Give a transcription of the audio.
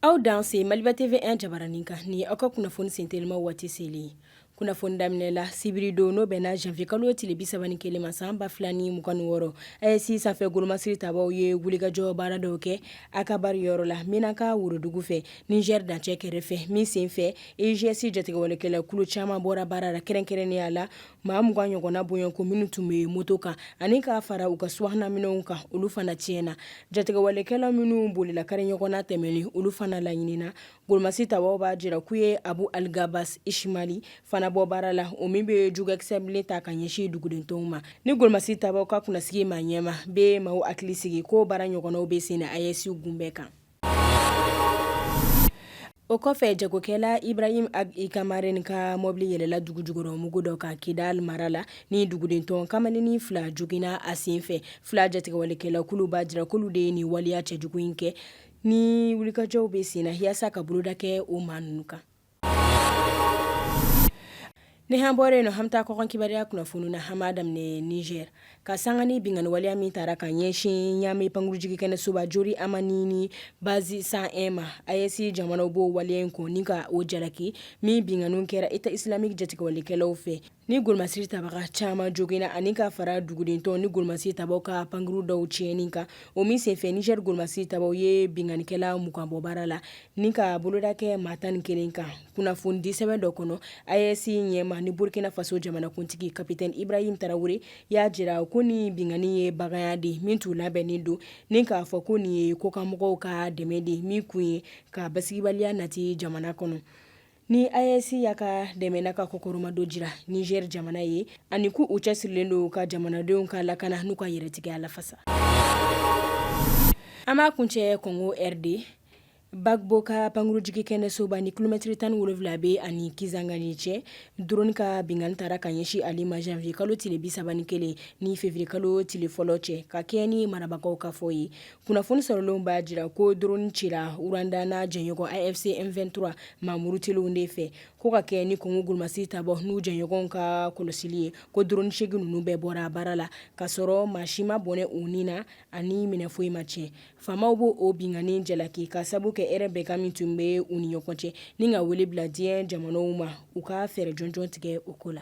Aw danse Maliba TV1 jabaranin kan ni aw ka kunnafoni sentelima waati selen kunnafoni daminɛla sibiridon n'o bɛnna janvier kalo tile bisaba ni kelen ma san ba fila ni mugan ni wɔɔrɔ AES sanfɛ golomasiri tabaw ye wulikajɔ baara dɔw kɛ Akabari yɔrɔ la Menaka worodugu fɛ Niger dancɛ kɛrɛfɛ min sen fɛ EIGS jatigɛwalekɛla kulu caman bɔra baara la kɛrɛnkɛrɛnnenya la maa mugan ɲɔgɔnna bɔɲɔnko minnu tun bɛ moto kan ani k'a fara u ka subahana minɛnw kan olu fana tiɲɛna jatigɛwalekɛla minnu bolila kari ɲɔgɔnna tɛmɛn olu fana laɲinina golomasiri tabaw b'a jira k'u ye Abu Algabas Ishmali fana bɔ baara la o min bɛ jugɛkisɛ bilen ta ka ɲɛsin dugudentɔnw ma ni golomasiri tabaw ka kunnasigi maa ɲɛma bɛ maaw hakili sigi ko baara ɲɔgɔnnaw bɛ sen na AES gun bɛɛ kan O kɔfɛ jagokɛla Ibrahim Ag Kamaren ka mɔbili yɛlɛla dugu jukɔrɔmugu dɔ kan Kidali mara la, ni dugudentɔ kamalennin fila joginna a sen fɛ, FLA jatigɛwalekɛla kulu b'a jira k'olu de ye nin waleya cɛjugu in kɛ, ni wulikajɔw bɛ sen na yaasa ka boloda kɛ o maa ninnu kan. Ni an bɔra yen nɔ an bɛ taa kɔkan kibaruya kunnafoni na an b'a daminɛ Niger ka sanga ni binkanni waleya min taara ka ɲɛsin Ɲamɛ pankurunjigin kɛnɛsoba Jori Amani ni Base 101 ma AES jamanaw b'o waleya in kɔn ni ka o jalaki min binkanni kɛra État islamique jatigɛwalekɛlaw fɛ Ni golomasiri tabaga caman joginna ani ka fara dugudentɔn ni golomasiri tabaw ka pankurun dɔw tiɲɛni kan o min senfɛ Niger golomasiri tabaw ye binkannikɛla mugan bɔ baara la ni ka boloda kɛ maa tan ni kelen kan kunnafoni di sɛbɛn dɔ kɔnɔ AES ɲɛmaa ni Burukina Faso jamanakuntigi Capitaine Ibrahim Traoré y'a jira ko nin binkanni ye baganya de min tun labɛnnen don ni k'a fɔ ko nin ye kɔkanmɔgɔw ka dɛmɛ de min kun ye ka basigibaliya nati jamana kɔnɔ Ni AES y'a ka dɛmɛ n'a ka kɔkɔrɔmadon jira Niger jamana ye ani ko u cɛsirilen don ka jamanadenw ka lakana n'u ka yɛrɛtigiya lafasa an b'a kuncɛ Congo RD Bangboka pankurunjigin kɛnɛsoba ni kilomɛtiri tan ni wolonwula bɛ a ni Kisangani cɛ drone ka binkanni taara ka ɲɛsin ale ma janvier kalo tile bisaba ni kelen ni février kalo tile fɔlɔ cɛ ka kɛɲɛ ni marabagaw ka fɔ ye kunnafoni sɔrɔlenw b'a jira ko drone cira Rwanda n'a jɛɲɔgɔn AFC M23 maamurutelenw de fɛ ko ka kɛɲɛ ni Congo golomasiri tabaw n'u jɛɲɔgɔnw ka kɔlɔsili ye ko drone seegin ninnu bɛɛ bɔra baara la k'a sɔrɔ maa si ma bɔnɛ u ni na ani minɛn foyi ma tiɲɛ faamaw b'o o binkanni jalaki ka sabu kɛ hɛrɛ bɛnkan min tun bɛ u ni ɲɔgɔn cɛ ni ka wele bila diɲɛ jamanaw ma u ka fɛɛrɛ jɔnjɔn tigɛ o ko la